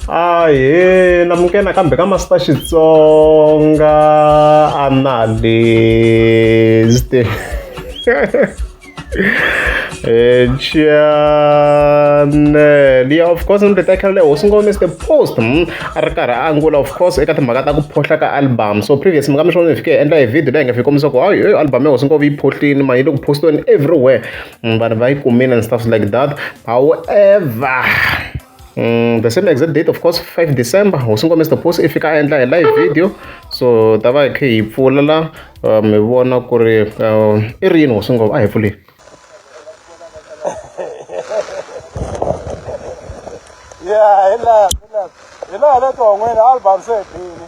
ahee lamukeni nakambe ka masita xitsonga analyst channel ya of course ni teka le hosi ngome the post hmm, a ri karhi a angula of course eka timhaka ta ku phohla ka album so previous mi nga mi swona ni fike endla hi video leyi nga fike kombisa ku hayi album ya hosi ngome yi phohlini mani yi le ku postiweni everywhere Mm, vanhu va yi kumile and stuff like that however Mm, the same exact date of course 5 december hosi ngome mr post i fika a endla hi live video so ta va hi khe hi pfula la uh, mi vona ku ri uh, i ri yini hosi ngome a hi pfuleni ya hi laha hi laha hi laha le ton'wini album se bini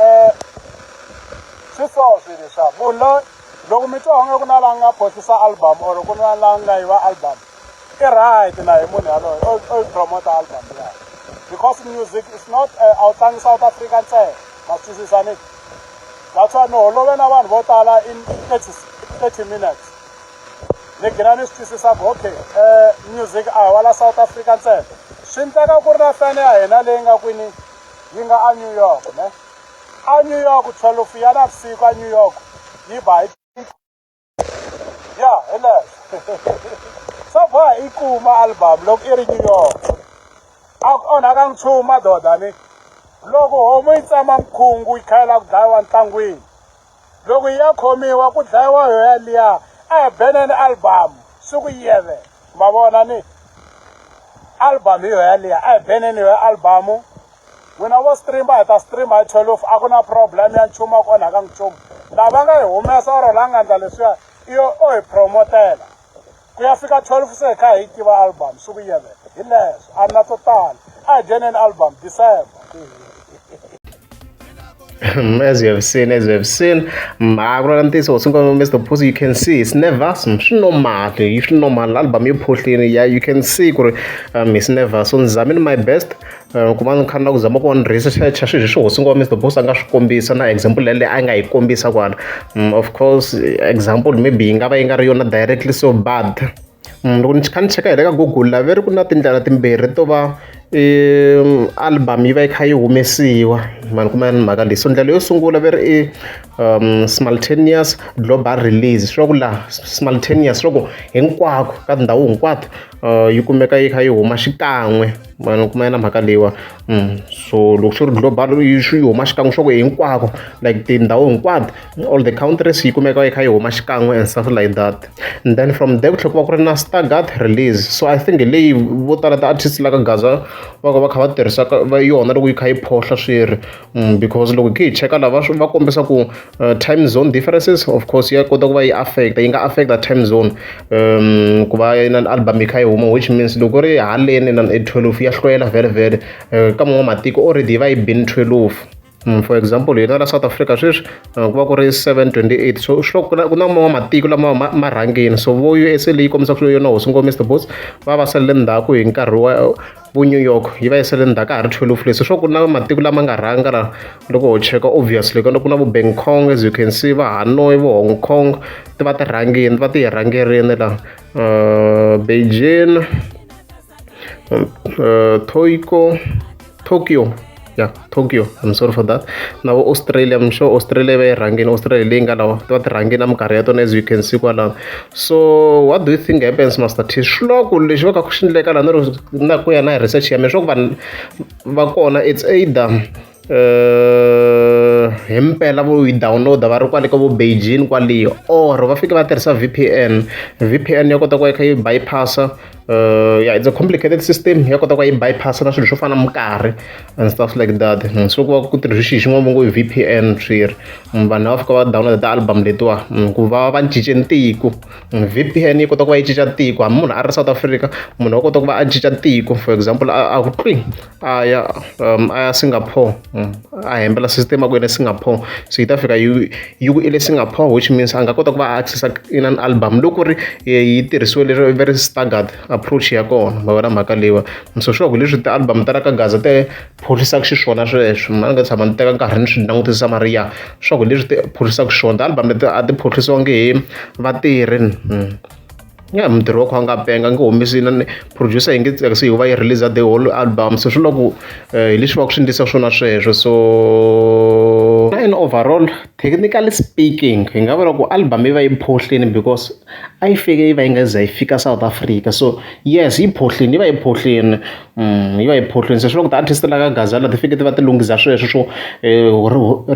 um swi so swilo leswa munhu loyi loko mi twa onge ku na la nga postisa album or ku na la nga yiva album i right na hi munhu yaloyo o promote album ya because music is not eh, a wu tlangi south africa ntsena ma swi twisisa ni that's why no holove na vanhu vo tala in thirty thirty minutes ni gina ni swi twisisa ku okay um music a hi wa la south africa ntsena swi ndleka ku ri na fane ya hina leyi nga kwini yi nga anew york ne anew york 12 ya navusiku anew york yi ba hi ya heleswo so ba hi kuma album loko i ri new york a ku onhaka nchumu madoda ni loko homu yi tsama mkhungu yi khayela ku dlayiwa ntlangwini loko yi ya khomiwa ku dlayiwa yo yaliya a hi beneni album siku yeve ma vona ni album hi yo yaliya a hi beneni yo album n'wina vo streama hi ta streama hi twelve a ku na problem ya nchumu a ku onhaka nchumu lava nga hi humesa or la nga ndla leswiya iyo o hi promotela ku ya fika 12 se hi kha hi tiva album swi vuyele hi leswo a na to tala a hi dyoneni album december as you have seen, as you have seen, Magrantisa was Mr. Pussy, you can see it's never some normal, it's normal album you push in, yeah, you can see um it's never so I'm in my best ku va ni kha ni la ku zama ku va ni researcher swi leswi hosi ngo va Mister Boss a nga swi kombisa na example yaleyo a nga yi kombisa kwala of course example maybe yi nga va yi nga ri yona directly so bad loko ni kha ni cheka hi le ka google la ve ri ku na tindlela timbirhi to va album yi va yi kha yi humesiwa mani kuma ni mhaka leyi so ndlela yo sungula ve ri i simultaneous global release swi va ku laha simultaneous swi va ku hinkwako ka tindhawu hinkwato yi kumeka yi kha yi huma xikan'we vanhu kuma yena mhaka leyiwa mm, so loko swi ri global swi huma xikan'we swa ku hinkwako like tindhawu hinkwato all the countries yi kumeka yi kha yi huma xikan'we and stuff like that and then from there ku tlhela ku va ku ri na stargat release so i think leyi vo tala ti-artist la ka gaza va ka va kha va tirhisaka va yona loko yi kha yi phohla swi ri Mm, because loko hi cheka lava va kombisa ku uh, time zone differences of course ya kota ku va yi affecta yi nga affecta time zone um ku va na album yi kha yi huma which means loko ri haleni na 12 ya hloyela vele vele uh, ka man'wa matiko already yi va yi bin 12 mm, for example hina la south africa sweswi uh, ku va ku ri 728 so swi ku na man'wa matiko lama ma rhangini so vo usa leyi kombisaka yona hosi ngomester boss va va salele ndzhaku hi nkarhi wa vu-New York yi va yisele ndzhaku ka ha ri 12 leswi swo ku na matiko lama nga rhanga la loko ho cheka obviously kana ku na vu Bang Kong as you can see va Hanoi vo Hong Kong ti va ti rhangini ti va ti yi rhangerini la uh, Beijing uh, Toyko Tokyo ya tokyo i'm sorry for that na vo australia i'm sure australia va yi rhangini australia leyi nga lawa va ti rhangini na minkarhi ya tona as you can see kwalano so what do you think happens master t swi lava ku lexi va ka ku xi ndleka laha na ku ya na hi research ya mina swa ku vanhu va kona it's either uh, himpela vo yi downloada va ri kwale ka vo beijing kwaliyo or va fike va tirhisa vpn vpn ya kota ku ya kha yi bypassa uh, yeah, it's a complicated system ya kota ku yi bypass na swilo swo fana minkarhi and stuff like that mm, so ku va ku tirhisa xixi xin'wana va ngo v p n swi ri mm, vanhu lava fika va download ti-album letiwa mm, ku va va cince tiko v p n yi kota ku va yi cinca tiko hambi munhu a ri south africa munhu wa kota ku va a cinca tiko for example a a ku twi a ya um, a ya singapore mm. a hembela system aku ene singapore so yi ta fika yi yi ku ile singapore which means a nga kota ku va a accessa in an album loko ri eh, yi tirhisiwe lero very staggered approach ya kona va vona mhaka leyiwa so sure ku leswi ti-album ta ra ka gaza te pholisaka xiswona sweswo ma ni nga tshama ni teka nkarhi ni swi langutisa mariya sure ku leswi ti pholisaka xiswona ti-album leti a ti phohlisiwangi hi vatirhi mm. ya mutirhi wa kha a nga penga a nge humesi na producer yi nge tsakisi hi va yi release the whole album so swi loko eh, hi leswi va ku swi ndlisa swona sweswo so in overall technically speaking hi nga vula ku album yi va yi phohlini because a yi fike yi va yi nga za yi fika south africa so yes yi phohlini yi va yi phohlini mm, yi va yi phohlini se swi loko ti-artist la ka gazala ti fike ti va ti lunghisa sweswo swo eh,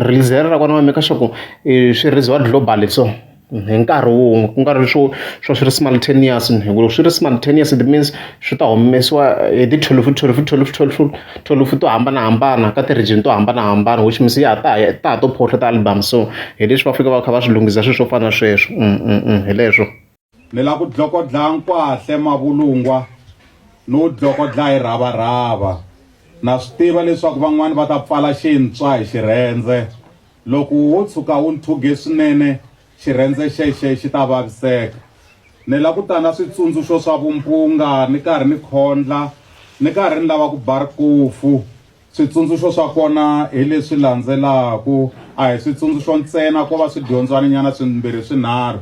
release ra kona va meka swa ku eh, swi releasiwa globally so hi nkarhi wun'we ku nga ri swo swo swi ri simultaneous hi ku loko swi ri simultaneous it means swi ta humesiwa hi ti thwelufu thwelufu thwelufu thwelufu thwelufu to hambanahambana ka ti-region to hambanahambana which means ya ha ta ya ta ha to phoxa ti-album so hi leswi va fika va kha va swi lunghisa swi swo fana na sweswo hi leswo ni la ku dlokodla nkwahle mavulungwa ni wu dlokodla hi rhavarhava na swi tiva leswaku van'wani va ta pfala xintswa hi xirhendze Loko wo tshuka wu ntshwuge swinene, xirhendze xexo xi ta vaviseka. Ni la ku ta na switsundzuxo swa vumpunga ni karhi ni khondla, ni karhi ni lava ku ba rikofu. Switsundzuxo swa kona hi leswi landzelaka, a hi switsundzuxo ntsena, ko va swidyondzwaninyana swimbirhi-swinharhu.